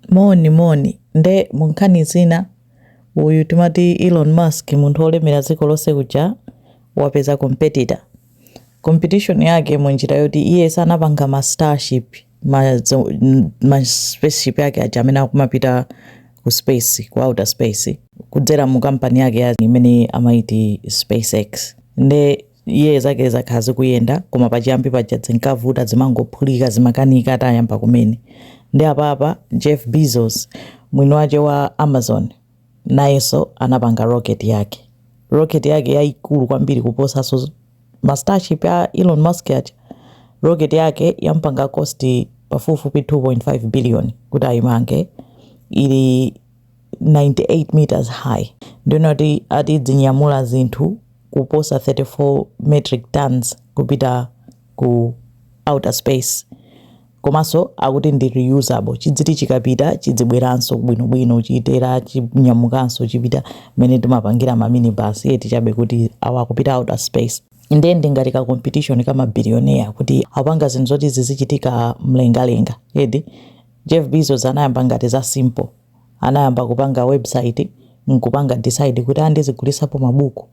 Moni moni. Nde mu nkhani zina uyu timati Elon Musk munthu olemera dziko lonse uja wapeza competitor. Competition yake mu njira yoti iye sanapanga ma starship ma ma spaceship ake aja amene akumapita ku space ku outer space kudzera mu kampani yake imene amaiti space X. Nde. Iye zake zakhala zikuyenda koma pachiyambi paja zinkavuta zimangophulika zimakanika atayamba kumene nde apapa Jeff Bezos mwini wache wa Amazon nayeso anapanga rocket yake rocket yake yaikulu kwambiri kuposaso ma starship a Elon Musk aja rocket yake yampanga cost pafupifupi 2.5 billion kuti aimange ili 98 metres high nde akuti ati idzinyamula zinthu kuposa 34 metric tons kupita ku outer space komanso akuti ndi reusable chidziti chikapita chidzibweranso bwinobwino chitera chinyamukanso chipita mmene timapangira maminibus eti chabe kuti awa akupita outer space ndiye ndi ngati ka competition ka mabilioneya kuti apanga zinthu zoti zizichitika mlengalenga eti Jeff Bezos anayamba ngati za simple. Anayamba kupanga website nkupanga decide kuti aa ndizigulisapo ma buku.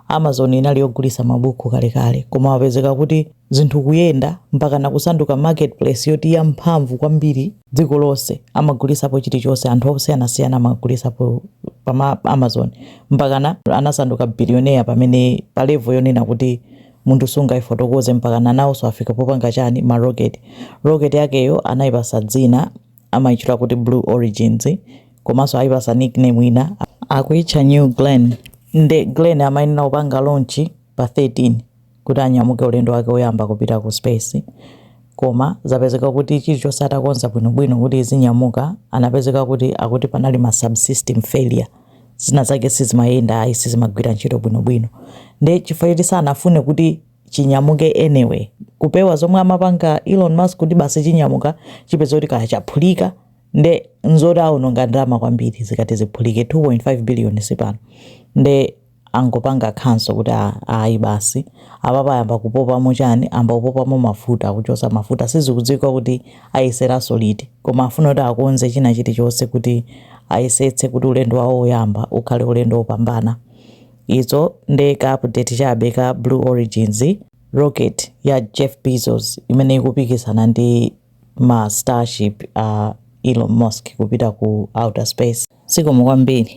Amazon inali yogulisa ma buku kale kale koma wapezeka kuti zinthu kuyenda mpakana kusanduka market place yoti ya mphamvu kwambiri dziko lonse. Amagulisapo chili chonse anthu osiyana siyana amagulisapo pa amazon mpakana anasanduka billionaire pamene pa level yonena kuti munthu sungaifotokoze mpakana naoso afika popanga chani ma rocket rocket yakeyo anaipasa dzina amaitchula kuti blue origin komaso aipasa nick name ina akuitcha new glenn nde glenn amayenera kupanga launch pa 13 kuti anyamuke ulendo wake oyamba kupita ku space Koma zapezeka kuti chilichonse atakonza bwinobwino kuti izinyamuka, anapezeka kuti akuti panali ma subsystem failure. Zina zake sizimayenda, sizimagwira ntchito bwinobwino. Nde chifukwa choti sanafune kuti chinyamuke anyway, kupewa zomwe amapanga Elon Musk kuti basi chinyamuka chipezeka kuti kaya chaphulika, nde nzoti awononga ndalama kwambiri zikati ziphulike, 2.5 billion si pang'ono. Nde. angopanga cancel kuti a ayi basi apapa ayamba kupopamo chani amba kupopamo mafuta akuchosa mafuta sizikudziwika kuti ayeseranso liti koma afuna kuti akonze china chilichonse kuti ayesetse kuti ulendo wawo woyamba ukhale ulendo wopambana izo nde ka update chabe ka blue origin rocket ya jeff bezos imene ikupikisana ndi ma starship a elon musk kupita ku outer space zikomo kwambiri